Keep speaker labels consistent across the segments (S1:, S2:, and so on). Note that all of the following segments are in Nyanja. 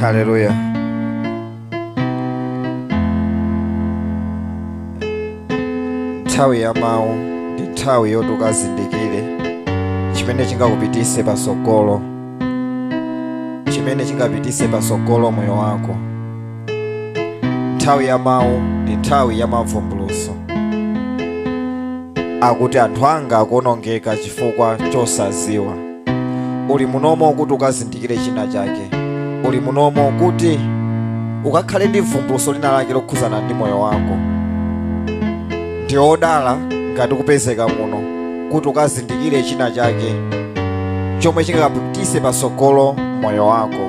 S1: Haleluya. Nthawi ya mawu ndi nthawi yoti ukazindikire chimene chingakupitise patsogolo, chimene chingapitise patsogolo moyo wako. nthawi ya mawu ndi nthawi ya mavumbuluso akuti anthu anga akuonongeka chifukwa chosaziwa uli munomo kuti ukazindikire china chake uli munomo kuti ukakhale ndi vumbuluso lina lake lokhuzana ndi moyo wako ndiwe odala ngati ukupezeka muno kuti ukazindikire china chake chomwe chingakapitise patsogolo moyo wako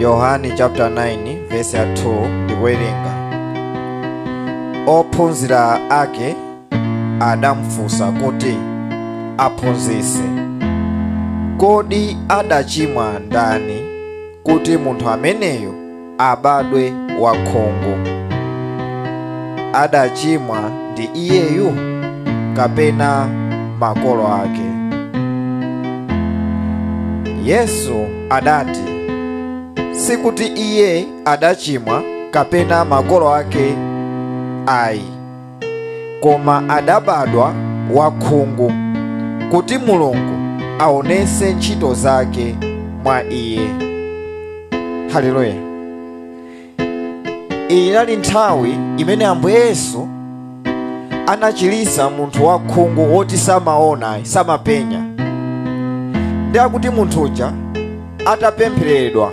S1: yohane chapter 9 verse ya 2 ndikuwerenga ophunzira ake adamufunsa kuti aphunzitsi kodi adachimwa ndani kuti munthu ameneyo abadwe wakhungu? Adachimwa ndi iyeyu kapena makolo ake? Yesu adati, sikuti iye adachimwa kapena makolo ake ayi. koma adabadwa wakhungu kuti mulungu aonese ntchito zake mwa iye haleluya iyi inali nthawi imene ambuye yesu anachilisa munthu wakhungu woti samaona samapenya ndiye akuti munthu uja atapempheredwa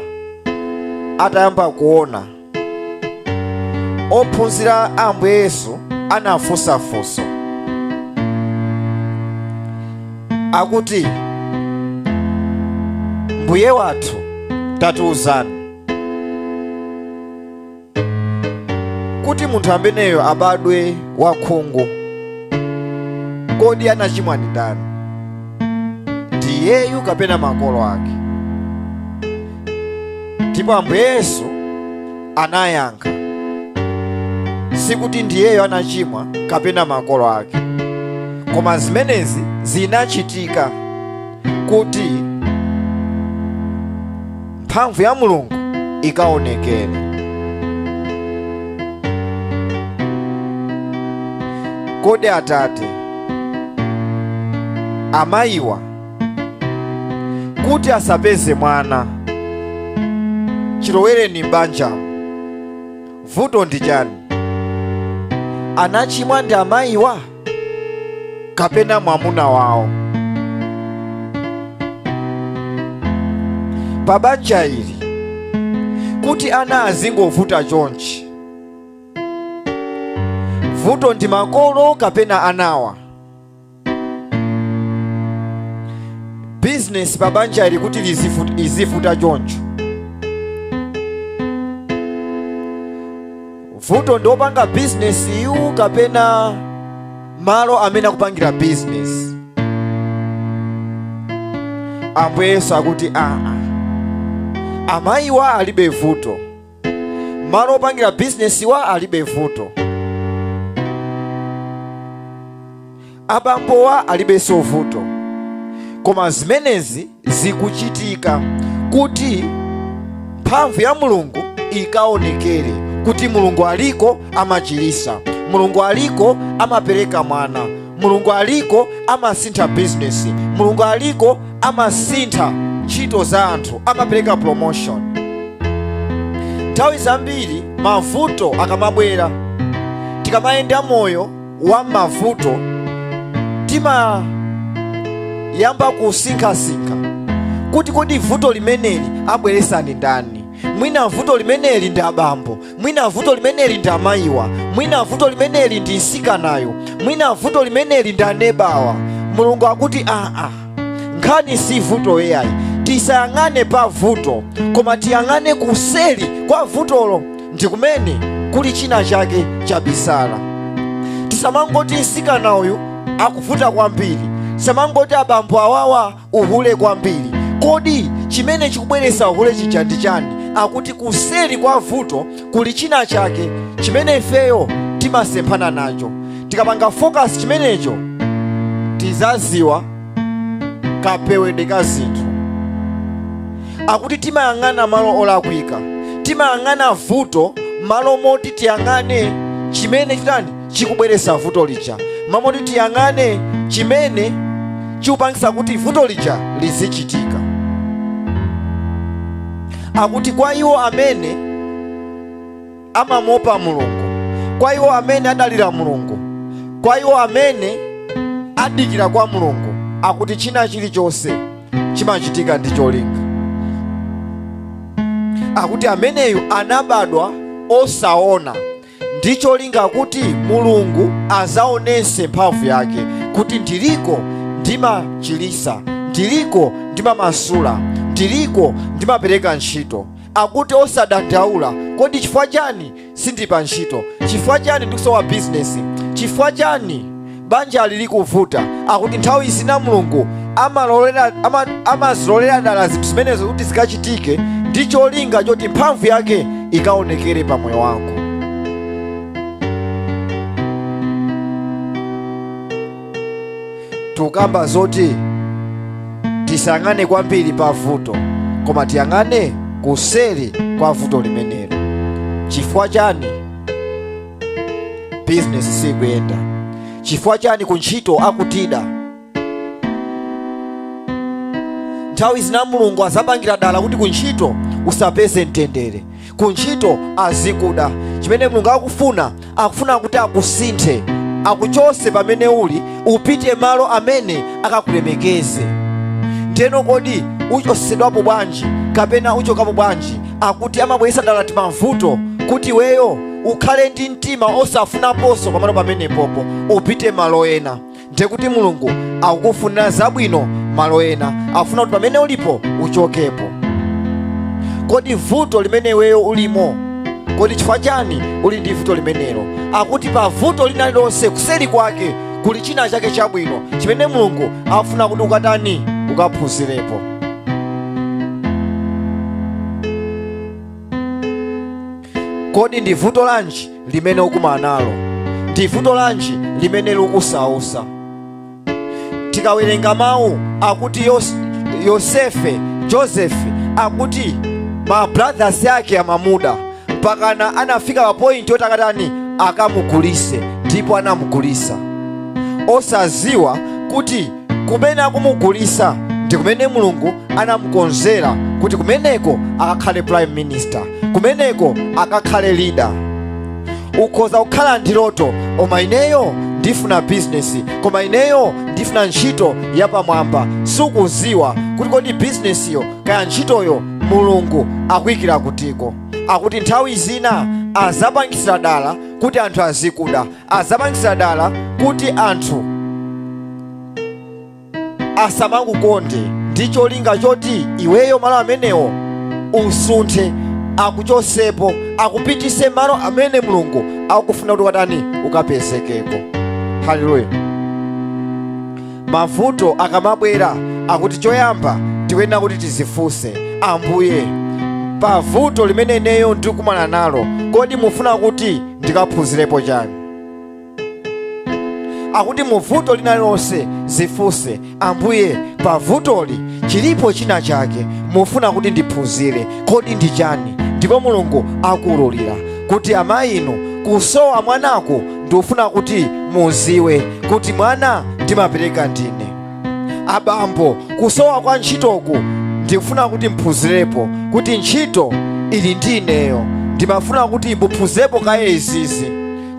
S1: atayamba kuona ophunzira a ambuye yesu anafunsa funso akuti mbuye wathu tatiuzani kuti munthu ameneyo abadwe wakhungu kodi anachimwa ndi ndani ndi iyeyu kapena makolo ake ndipo ambuye yesu anayankha sikuti ndi iyeyo anachimwa kapena makolo ake koma zimenezi zinachitika kuti mphamvu ya mulungu ikaonekere kodi atate amayiwa kuti asapeze mwana chilowereni m'banjamo vuto ndi chani anachimwa ndi amayiwa kapena mwamuna wawo pa banja ili kuti ana azingovuta chonchi vuto ndi makolo kapena anawa bizinesi pa banja ili kuti izivuta choncho vuto ndi opanga bizinesi iyu kapena malo amene akupangira bizinesi ambuye yesu akuti aa amayiwa alibe vuto malo opangira bizinesiwa alibe vuto abambowa alibenso vuto koma zimenezi zikuchitika kuti mphamvu ya mulungu ikaonekere kuti mulungu aliko amachirisa mulungu aliko amapereka mwana mulungu aliko amasintha bizinesi mulungu aliko amasintha ntchito za anthu amapereka promotion nthawi zambiri mavuto akamabwera tikamayenda moyo wa mavuto timayamba kusinkhasinkha kuti kodi vuto limeneli wabweresa ndi ndani mwina vuto limeneli ndi abambo mwina vuto limeneli ndi amayiwa mwina vuto limeneli ndi msikanayu mwina vuto limeneli ndi anebawa mulungu akuti aa nkhani si vuto iyayi tisayang'ane pa vuto koma tiyang'ane kuseli kwa vutolo ndi kumene kuli china chake chabisala tisamangoti msikana uyu akuvuta kwambiri tisamangoti abambo awawa uhule kwambiri kodi chimene chikubweretsa uhule chija ndi chani akuti kuseri kwa vuto kuli china chake chimene ifeyo timasemphana nacho tikapanga focus chimenecho tizaziwa kapewedwe ka zinthu akuti timayang'ana malo olakwika timayang'ana vuto malo moti tiyang'ane chimene chitani chikubweretsa vuto lija malo moti tiyang'ane chimene chikupangisa kuti vuto lija lizichitika akuti kwa iwo amene amamuopa mulungu kwa iwo amene adalira mulungu kwa iwo amene adikira kwa mulungu akuti china chilichonse chimachitika ndi cholinga akuti ameneyu anabadwa osaona ndi cholinga kuti mulungu azaonese mphamvu yake kuti ndiliko ndimachilisa ndiliko ndimamasula ndiliko ndimapereka ntchito akuti osadandaula kodi chifukwa chani sindi pa ntchito chifukwa chani ndikusowa bizinesi chifukwa chani banja lili kuvuta akuti nthawi zina mulungu amazilolera dala zinthu zimenezo kuti zikachitike ndi cholinga choti mphamvu yake ikaonekere pa moyo wako tukamba zoti tisayang'ane kwambiri pa vuto koma tiyang'ane kuseri kwa vuto limenelo chifukwa chani bizinesi sikuyenda chifukwa chani ku ntchito akutida nthawi zina mulungu azapangira dala kuti ku ntchito usapeze mtendere ku ntchito azikuda chimene mulungu akufuna akufuna kuti akusinthe akuchose pamene uli upite malo amene akakulemekeze ndeno kodi uchosesedwapo bwanji kapena uchokapo bwanji akuti amabweresa dala timavuto kuti weyo ukhale ndi mtima osafunaponso pamalo pamenepopo upite malo ena ndiye kuti mulungu akukufunira zabwino malo ena afuna kuti pamene ulipo uchokepo kodi vuto limene iweyo ulimo kodi chifukwa chani uli ndi vuto limenelo akuti pa vuto lina lililonse kuseri kwake kuli china chake chabwino chimene mulungu afuna kuti ukatani ukaphunzirepo kodi ndi vuto lanji limene ukumana nalo ndi vuto lanji limene likusausa tikawerenga mawu akuti yosefe joseph akuti ma brothers ake amamuda mpakana anafika pa point yoti akatani akamugulise ndipo anamugulisa osaziwa kuti kumene akumugulisa ndi kumene mulungu anamukonzera kuti kumeneko akakhale prime minister kumeneko akakhale leader ukhoza kukhala ndi loto koma ineyo ndifuna bizinesi koma ineyo ndifuna ntchito yapamwamba sukuziwa kuti kodi bizinesiyo kaya ntchitoyo mulungu akuyikira kutiko akuti nthawi zina azapangisira dala kuti anthu azikuda adzapangisira dala kuti anthu asamakukonde ndi cholinga choti iweyo malo amenewo usunthe akuchosepo akupitise malo amene mulungu akufuna kuti ukatani ukapezekeko haleluya mavuto akamabwera akuti choyamba tikuyenera kuti tizifunse ambuye pa vuto limene ineyo ndikumana nalo kodi mufuna kuti ndikaphunzirepo chani akuti mu vuto lina lililonse zifunse ambuye pa vutoli chilipo china chake mufuna kuti ndiphunzire kodi ndi chani ndipo mulungu akuululira kuti amayi inu kusowa mwanako ndikufuna kuti muziwe kuti mwana ndimapereka ndine abambo kusowa kwa ntchitoku ndikufuna kuti muphunzirepo kuti ntchito ili ndi ineyo ndimafuna kuti muphunzirepo kaye izizi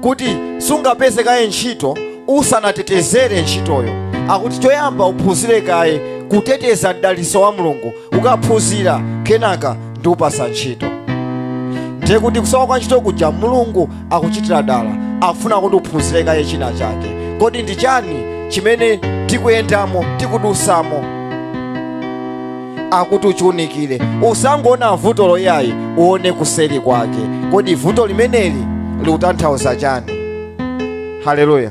S1: kuti sungapeze kaye ntchito usanatetezere ntchitoyo akuti choyamba uphunzire kaye kuteteza mdaliso wa mulungu ukaphunzira kenaka ndikupasa ntchito ndiye kuti kusowa kwa ntchito kuja mulungu akuchitira dala afuna kuti uphunzire kaye china chake kodi ndi chani chimene tikuyendamo tikudusamo akuti uchiunikire usangoona vuto loyayi uone kuseri kwake kodi vuto limeneli likutanthauza chani haleluya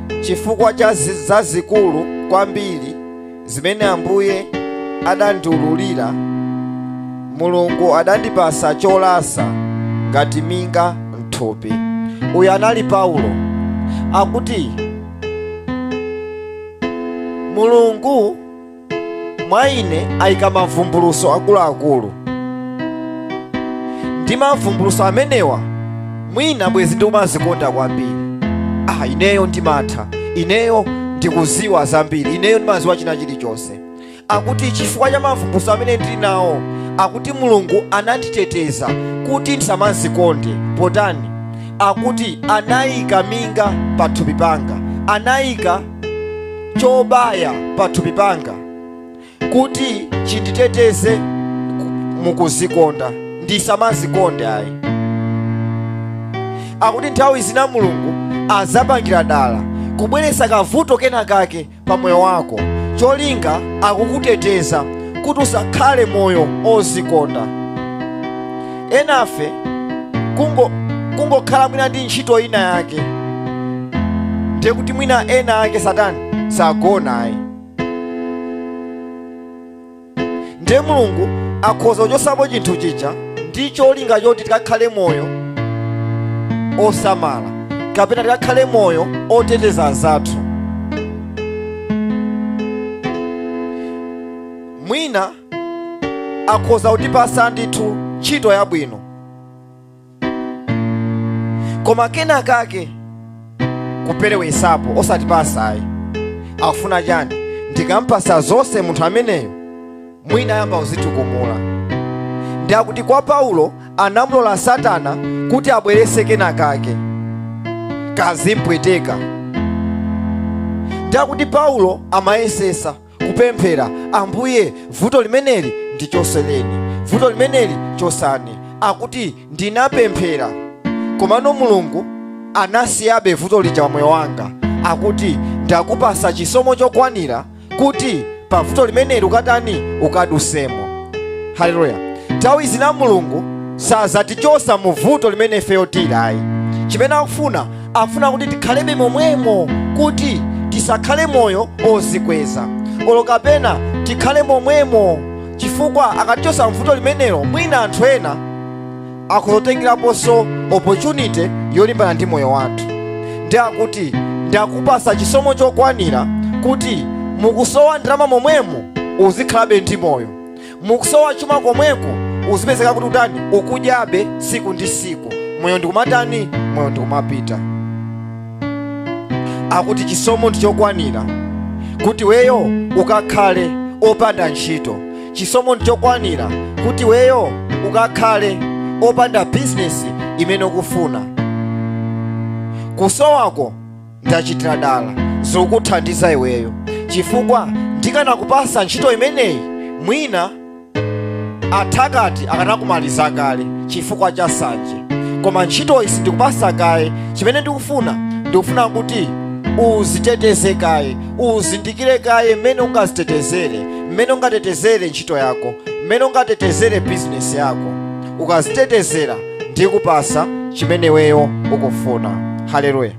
S1: chifukwa cha zazikulu kwambiri zimene Ambuye adandiululira, Mulungu adandipasa cholasa ngati minga mthupi. Uyu anali Paulo akuti Mulungu mwa ine ayika mavumbuluso akuluakulu ndi mavumbuluso amenewa mwina bwezi ndikumazikonda kwambiri ah ineyo ndimatha ineyo ndikuziwa zambiri ineyo ndimaziwa china chilichonse akuti chifukwa cha mavumbuluso amene ndili nawo akuti mulungu ananditeteza kuti ndisamazikonde potani akuti anayika minga pathupi panga anayika chobaya pathupi panga kuti chinditeteze mukuzikonda ndisamazikonde ayi akuti nthawi zina mulungu azapangira dala kubweretsa kavuto kenakake pa moyo wako cholinga akukuteteza kuti usakhale moyo ozikonda enafe kungokhala mwina ndi ntchito ina yake ndiye kuti mwina ena ake satani sagona ayi ndiye mulungu akhoza kuchosapo chinthu chija ndi cholinga choti tikakhale moyo osamala kapena tikakhale moyo oteteza anzathu mwina akhoza kutipasa ndithu ntchito yabwino koma kena kake kuperewesapo osatipasa ayi akufuna chani ndikampasa zonse munthu ameneyo mwina ayamba kuzitukumula nde akuti kwa paulo anamulola satana kuti abwerese kena kake kazimpweteka nde akuti paulo amayesesa kupemphera ambuye vuto limeneli ndichoseleni vuto limeneli chosani akuti ndinapemphera komano mulungu anasiyabe vuto lija pa moyo wanga akuti ndakupasa chisomo chokwanira kuti pa vuto limeneli ukatani ukadusemo haleluya nthawi zina mulungu sazatichosa mu vuto limene ifeyo tili ayi chimene akufuna afuna kuti tikhalebe momwemo kuti tisakhale moyo ozikweza olo kapena tikhale momwemo chifukwa akatichosa mvuto limenelo mwina anthu ena akazatengeraponso opportunity yolimbana ndi moyo wathu nde akuti ndakupasa chisomo chokwanira kuti mukusowa ndalama momwemo uzikhalabe ndi moyo mukusowa chuma komweko uzipezeka kuti utani ukudyabe siku ndi siku moyo ndikumatani moyo ndikumapita akuti chisomo ndichokwanira kuti weyo ukakhale opanda ntchito chisomo ndichokwanira kuti weyo ukakhale opanda bizinesi imene ukufuna kusowako ndachitira dala zikuthandiza iweyo chifukwa ndikanakupasa ntchito imeneyi mwina athakati akanakumaliza kale chifukwa cha sanje koma ntchitoyi sindikupasa kaye chimene ndikufuna ndikufuna kuti uziteteze kaye uzindikire kaye mmene ungazitetezere mmene ungatetezere ntchito yako mmene ungatetezere bizinesi yako ukazitetezera ndikupasa chimene iweyo ukufuna haleluya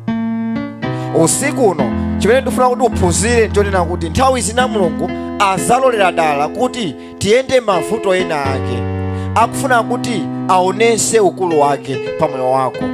S1: usiku uno chimene ndifuna kuti uphunzire nchonena kuti nthawi zina mulungu azalolera dala kuti tiyende mavuto ena ake akufuna kuti aonese ukulu wake pa moyo wako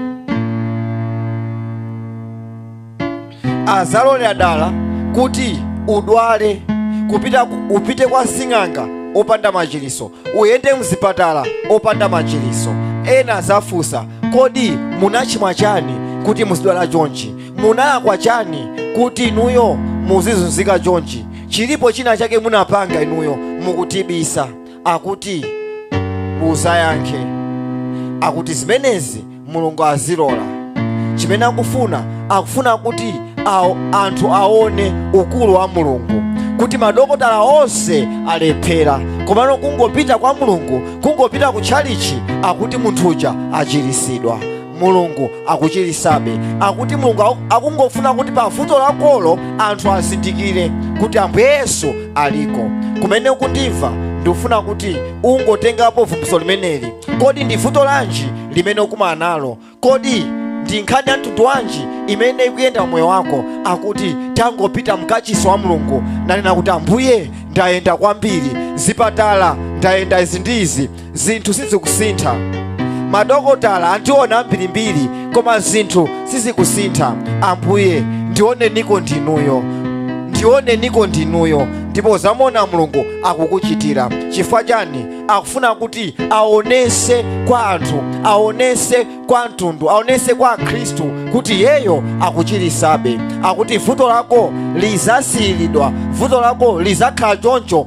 S1: azalolera dala kuti udwale kupita ku- upite kwa sing'anga opanda machiliso uyende mzipatala opanda machiliso ena azafunsa kodi munachimwa chani kuti muzidwala chonchi munalakwa chani kuti inuyo muzizunzika chonchi chilipo china chake munapanga inuyo mukutibisa akuti uzayankhe akuti zimenezi mulungu azilola chimene akufuna akufuna kuti anthu aone ukulu wa mulungu kuti madokotala onse alephera komano kungopita kwa mulungu kungopita ku tchalichi akuti munthu uja achirisidwa mulungu akuchirisabe akuti mulungu aku- akungofuna kuti pa vuto lakolo anthu azindikire kuti ambuye yesu aliko kumene ukundimva ndikufuna kuti ungotengapo vumbulutso limeneli kodi ndi vuto lanji limene ukumana nalo kodi ndi nkhani ya mtundu wanji imene ikuyenda m'moyo wako akuti tangopita mkachisi wa mulungu nanena kuti ambuye ndayenda kwambiri zipatala ndayenda izi ndi izi zinthu sizikusintha madokotala andiona ambirimbiri koma zinthu sizikusintha ambuye ndioneniko ndinuyo ndioneniko ndinuyo ndipo uzamuona mulungu akukuchitira chifukwa chani akufuna kuti aonese kwa anthu aonese kwa mtundu aonese kwa akhristu kuti iyeyo akuchirisabe akuti vuto lako lizasiyiridwa vuto lako lizakhala choncho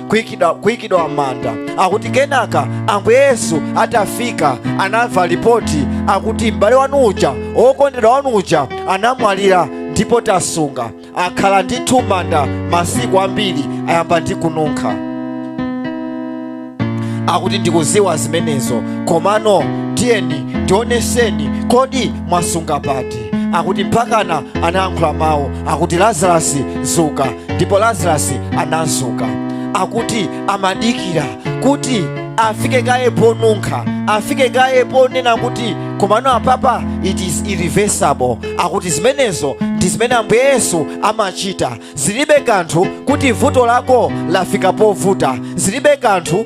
S1: kuikidwa kuikidwa m'manda akuti kenaka ambuye yesu atafika anamva lipoti akuti m'bale wanu uja wokondedwa wanu uja anamwalira ndipo tasunga akhala ndithu m'manda masiku ambiri ayamba ndi kununkha akuti ndikuziwa zimenezo komano tiyeni ndioneseni kodi mwasunga pati akuti mpakana anayankhula mawu akuti lazarasi zuka ndipo lazarasi anazuka akuti amadikira kuti afike kaye ponunkha afike kaye ponena kuti komano apapa it is irreversible akuti zimenezo ndi zimene ambuye yesu amachita zilibe kanthu kuti vuto lako lafika povuta zilibe kanthu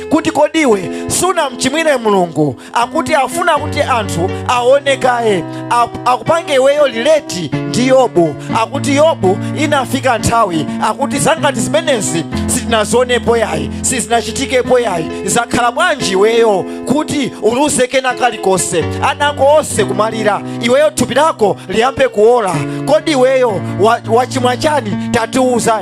S1: kuti kodi iwe sunamchimwire mulungu akuti afuna kuti anthu aone kaye Ak- akupange iweyo relate ndi yobu akuti yobu inafika nthawi akuti zangati zimenezi sitinazionepo yayi sizinachitikepo yayi zakhala bwanji iweyo kuti uluze kena kalikonse ana ako onse kumwalira iweyo thupi lako liyambe kuola kodi iweyo wa- wachimwa chani tatiuza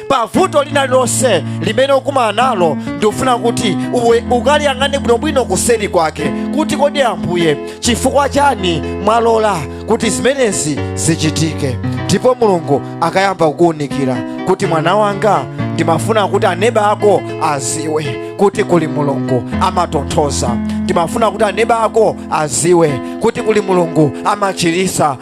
S1: pa vuto lina lililonse limene ukumana nalo ndikufuna kuti iwe ukaliyang'ane bwinobwino kuseri kwake kuti kodi ambuye chifukwa chani mwalola kuti zimenezi zichitike ndipo mulungu akayamba kukuwunikira kuti mwana wanga ndimafuna kuti aneba ako aziwe kuti kuli mulungu amatonthoza ndimafuna kuti aneba ako aziwe kuti kuli mulungu amachirisa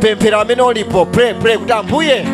S1: pemphera pamene ulipo pray pray kuti ambuye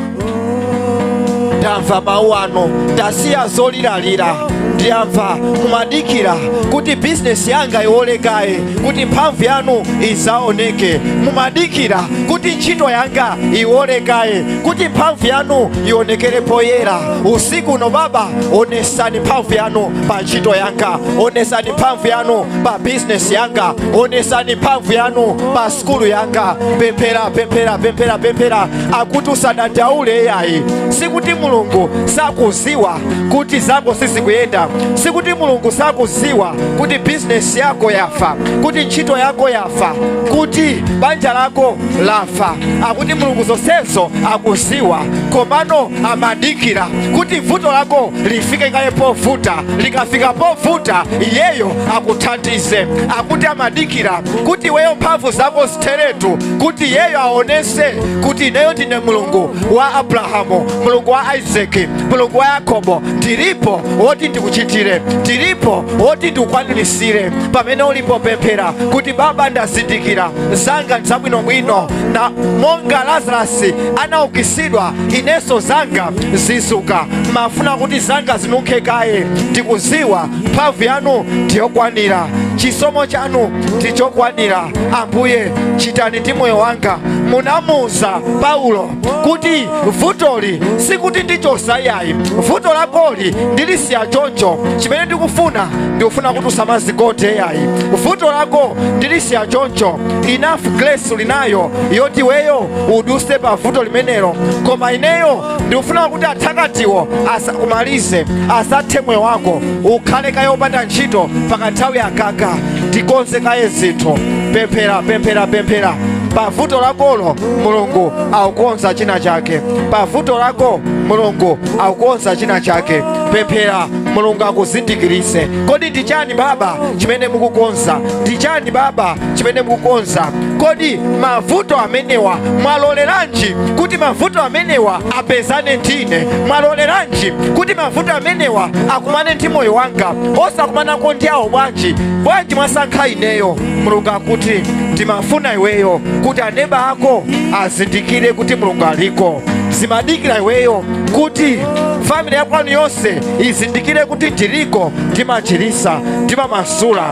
S1: ndamva mawu anu ndasiya zoliralira ndiyamva mumadikira kuti bizinesi yanga iwolekaye kuti mphamvu yanu izaoneke mumadikira kuti ntchito yanga iwolekaye kuti mphamvu yanu ionekere poyera usiku uno baba onesani mphamvu yanu pa ntchito yanga onesani mphamvu yanu pa bizinesi yanga onesani mphamvu yanu pa sukulu yanga pemphera pemphera pemphera pemphera akuti usadandaule yayi sikuti mulungu sakuziwa kuti zako sizikuyenda sikuti mulungu sakuziwa kuti bizinesi yako yafa kuti ntchito yako yafa kuti banja lako lafa akuti mulungu zonsezo akuziwa komano amadikira kuti vuto lako lifike kaye povuta likafika povuta iyeyo akuthandize akuti amadikira kuti iweyo mphamvu zako zitheretu kuti iyeyo aonese kuti ineyo ndine mulungu wa abrahamu mulungu wa isaki mulungu wa yakobo ndilipo woti ndikuchitire ndilipo woti ndikukwanirisire pamene ulipo pemphera kuti baba ndazindikira zanga nzabwinobwino na monga lazarasi anaukitsidwa inenso zanga zizuka mafuna kuti zanga zinunkhe kaye ndikuziwa mphamvu yanu ndiyokwanira chisomo chanu ndichokwanira ambuye chitani ndi moyo wanga munamuza paulo kuti vutoli sikuti ndichosa yayi vuto lakoli ndilisiya choncho chimene ndikufuna ndikufuna kuti usamazigote yayi vuto lako ndilisiya choncho enough grace ulinayo yoti iweyo uduse pa vuto limenelo koma ineyo ndikufuna kuti athakatiwo asakumalize asathe moyo wako ukhale kaye opanda ntchito pakanthawi akaka tikonze kaye zinthu pemphera pemphera pemphera pa vuto lakolo mulungu akukonza china chake pa vuto lako mulungu akukonza china chake pemphera mulungu akuzindikirise kodi ndi chani baba chimene mukukonza ndi chani baba chimene mukukonza kodi mavuto amenewa mwaloleranji kuti mavuto amenewa apezane ndine mwaloleranji kuti mavuto amenewa akumane ndi moyo wanga osakumanako ndi awo bwanji bwanji mwasankha ineyo mulungu akuti ndimafuna iweyo kuti aneba ako azindikire kuti mulungu aliko zimadikira iweyo kuti family yakwanu yonse izindikire kuti ndiliko ndimachirisa ndimamasula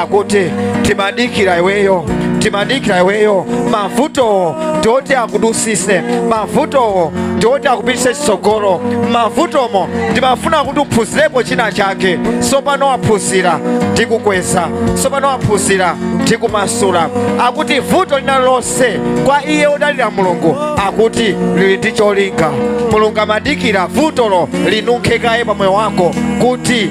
S1: akuti timadikira iweyo timadikira iweyo mavutowo ndioti akudusise mavutowo ndioti akupitise chitsogolo mavutomo ndimafuna kuti uphunzirepo china chake sopano waphunzira ndikukweza sopano waphunzira ndikumasula akuti vuto lina lonse kwa iye odalira mulungu akuti lili ndi cholinga mulungu amadikira vutolo linunkhe kaye pa moyo wako kuti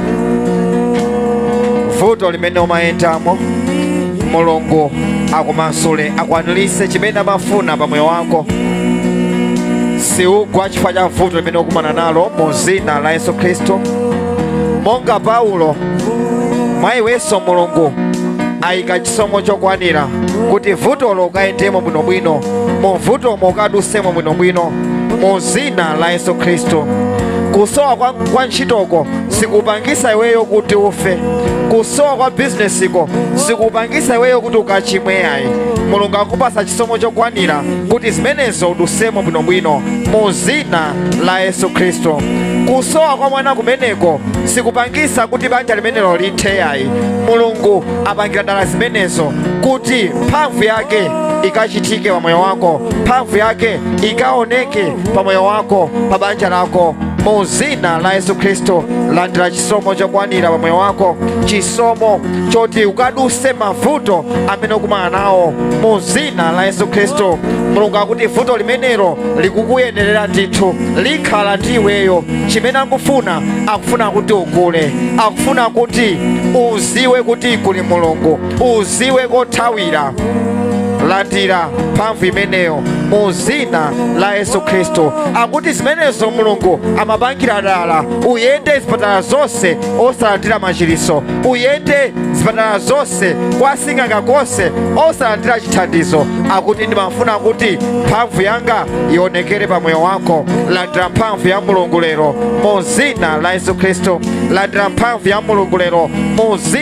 S1: vuto limene umayendamo mulungu akumasule akwanilise chimene amafuna pa moyo wako siugwa chifukwa cha vuto limene ukumana nalo mu zina la yesu khristu monga paulo mwa iwenso mulungu ayika chisomo chokwanira kuti vutolo ukayendemo bwinobwino mu vutomo ukadusemo bwinobwino mu zina la yesu khristu kusowa kwa ntchitoko sikupangisa iweyo kuti ufe kusowa kwa bizinesiko sikupangisa iweyo kuti ukachimwe yayi mulungu akupasa chisomo chokwanira kuti zimenezo udusemo bwinobwino mu zina la yesu khristu kusowa kwa mwana kumeneko sikupangisa kuti banja limenelo lithe yayi mulungu apangira dala zimenezo kuti mphamvu yake ikachitike pa moyo wako mphamvu yake ikaoneke pa moyo wako pa banja lako mu zina la yesu khristu landira chisomo chokwanira pa moyo wako chisomo choti ukaduse mavuto amene ukumana nawo mu zina la yesu khristu mulungu akuti vuto limenelo likukuyenerera ndithu likhala ndi iweyo chimene akufuna akufuna kuti ukule akufuna kuti uziwe kuti kuli mulungu uziwe kothawira landira mphamvu imeneyo mu zina la yesu khristu akuti zimenezo mulungu amapangira dala uyende zipatala zonse osalandira machiritso uyende zipatala zonse kwa sing'anga konse osalandira chithandizo akuti ndimafuna kuti mphamvu yanga ionekere pa moyo wako landira mphamvu ya mulungu lero mu zina la yesu khristu landira mphamvu ya mulungu lero mu zina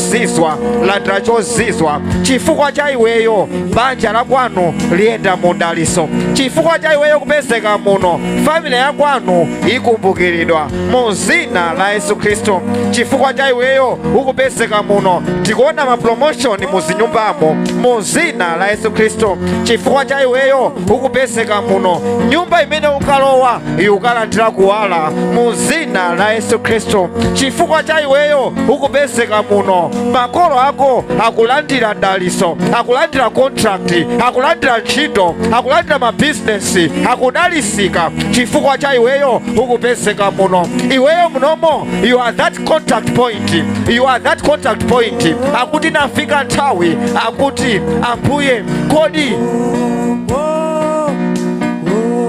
S1: chozizwa landira chozizwa chifukwa cha iweyo banja la kwanu liyenda mu daliso chifukwa cha iweyo kupezeka muno family ya kwanu ikumbukiridwa mu zina la yesu khristu chifukwa cha iweyo ukupezeka muno tikuona mapromoshoni mu zinyumbamo mu zina la yesu khristu chifukwa cha iweyo ukupezeka muno nyumba imene ukalowa ukalandira kuwala mu zina la yesu khristu chifukwa cha iweyo ukupezeka muno makolo ako akulandira daliso akulandira contract akulandira ntchito akulandira mabizinesi akudalisika chifukwa cha iweyo ukupezeka muno iweyo munomo you are that contact point you are that contact point akuti inafika nthawi akuti ambuye kodi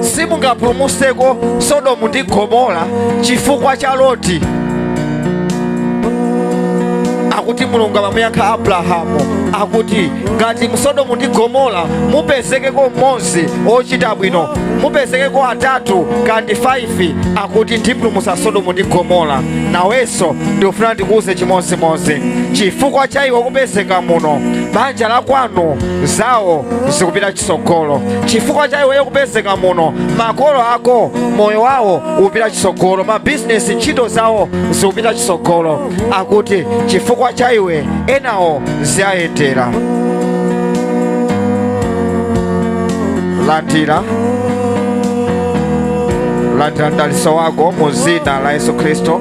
S1: simungapulumutseko sodomu ndi gomora chifukwa cha loti akuti mulungu amamuyankha abrahamu akuti ngati mu sodomu ndi gomora mupezekeko mmodzi ochita bwino mupezekeko atatu kandi 5 akuti ndipulumutsa sodomu ndi gomora nawenso ndikufuna ndikuuze chimodzimodzi chifukwa cha iwe kupezeka muno banja la kwanu zawo zikupita chitsogolo chifukwa cha iweyo kupezeka muno makolo ako moyo wawo upita chitsogolo mabizinesi ntchito zawo zikupita chitsogolo akuti chifukwa cha iwe enawo ziwayendera landira landira mdaliso wako mu zina la yesu khristu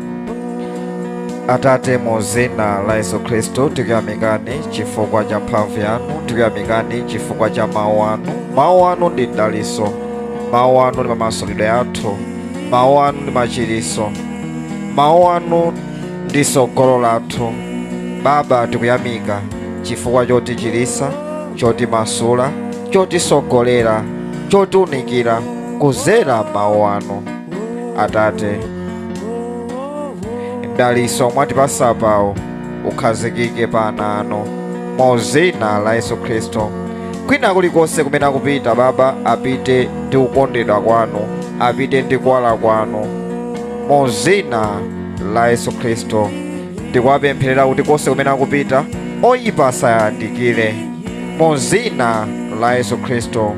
S1: atate mu zina la yesu khristu tikuyamikani chifukwa cha mphamvu yanu tikuyamikani chifukwa cha mawu anu mawu anu ndi mdaliso mawu anu ndi mamasulidwe athu mawu anu ndi machiriso mawu anu ndi sogolo lathu baba tikuyamika chifukwa chotichirisa chotimasula chotisogolera chotiunikira kuzera mawu anu atate mdaliso mwatipasa pawo ukhazikike pa ana anu mu zina la yesu khristu kwina kulikonse kumene akupita baba apite ndi kukondedwa kwanu apite ndi kuwala kwanu mu zina la yesu khristu ndikuwapempherera kuti konse kumene akupita oyipa asayandikire mu zina la yesu khristu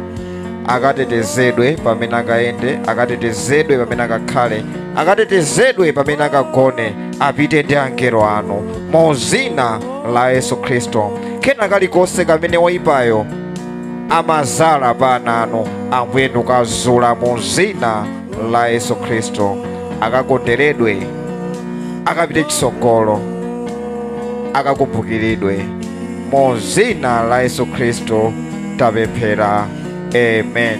S1: akatetezedwe pamene akayende akatetezedwe pamene akakhale akatetezedwe pamene akagone apite ndi angelo anu mu zina la yesu khristu kena kalikonse kamene woyipayo amazala pa ana anu ambuye ndikukazula mu zina la yesu khristu akakonderedwe akapite chitsogolo akakumbukiridwe mu dzina la yesu khristu tapemphera amen